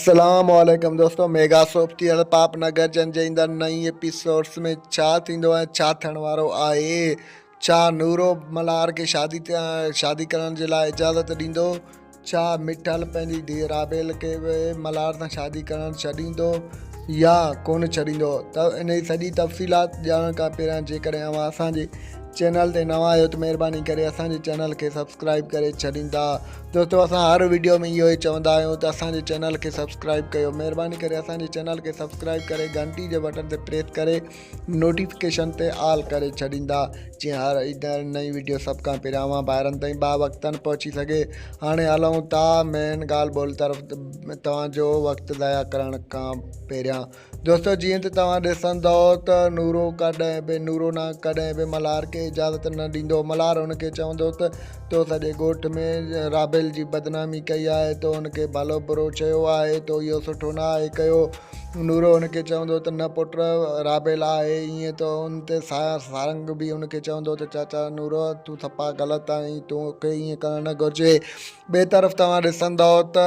السلام عليڪم دوستو ميگا سوپ تي هڙ پاپ نگر جن جي ايندڙ نئين ايپيسوڊس ۾ ڇا ٿيندو ۽ ڇا ٿيڻ وارو آهي ڇا نورو ملهار کي شادي شادي ڪرڻ جي لاء اجازت ڏيندو ڇا مٺل پنهنجي ڌيء رابيل کي به ملهار سان شادي ڪرڻ ڇڏيندو يا ڪونه ڇڏيندو ته ان جي سڄي تفصيلات ڄاڻڻ کان پهريان جيڪڏهن اوهان اسان جي چينل تي نوان آهيو ته مهرباني ڪري اسان جي چينل کي سبسڪرائب ڪري ڇڏيندا دوستو اسان هر ويڊيو ۾ اهو ئي چوندا آهيون ته اسان جي چينل کي سبسڪرائب ڪيو مهرباني ڪري اسان جي چينل کي سبسڪرائب ڪري گهنٽي جي بٽن تي پريس ڪري نوٽيفڪيشن تي آل ڪري ڇڏيندا جيئن هر ايندڙ نئين ويڊيو سڀ کان پهريان اوهان ڀائرن تائين با وقتاً پهچي سگهي هاڻي هلون ٿا مين ڳالهه ٻولهه طرف توهان جو وقت ضايع ڪرڻ کان پهريان دوستو جيئن ته توهان ڏسندؤ ته نورو ڪڏهن به نورو نه ڪڏهن به ملهار کي اجازت نه ڏيندو ملهار هن کي چوندو ته تو سڄي ڳوٺ ۾ رابيل جي بدنامي ڪئي آهي تو هن کي ڀلو برو چيو آهي تو اهو سٺو نه آهي ڪيو نورو هن کي چوندو ته نه پٽ رابيل آهي ايئن ته ان تي سارنگ به هن کي چوندو ته چاچا نورو تون سپا غلط آهين تون کي ايئن ڪرڻ نه گهرجي ٻئي طرف توهان ڏسندؤ ته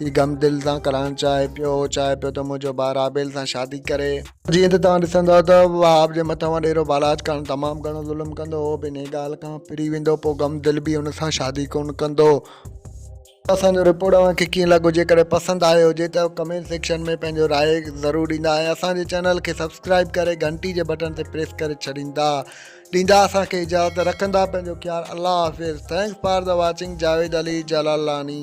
هي غم دل سان ڪرڻ چاهي پيو. هو چاهي پيو ته منهنجو ڀاء رابيل سان شادي ڪري. جيئن ته توهان ڏسندؤ ته وهاب جي مٿان وڏيرو بالاچ خان تمام گهڻو ظلم ڪندو هو به انهيء ڳالهه کان ڦري ويندو پوء غم دل به ان سان شادي ڪونه ڪندو. اهو اسان جو رپورٽ اوهان کي ڪيئن لڳو جيڪڏهن پسند آيو هجي ته ڪمينٽ سيڪشن ۾ پنهنجو راء ضرور ڏيندا ۽ اسان جي چينل کي سبسڪرائيب ڪري گهنٽي جي بٽڻ تي پريس ڪري ڇڏيندا ڏيندا اسان کي اجازت رکندا پنهنجو خيال الله حافظ thanks for the watching Javed Ali Jalalani.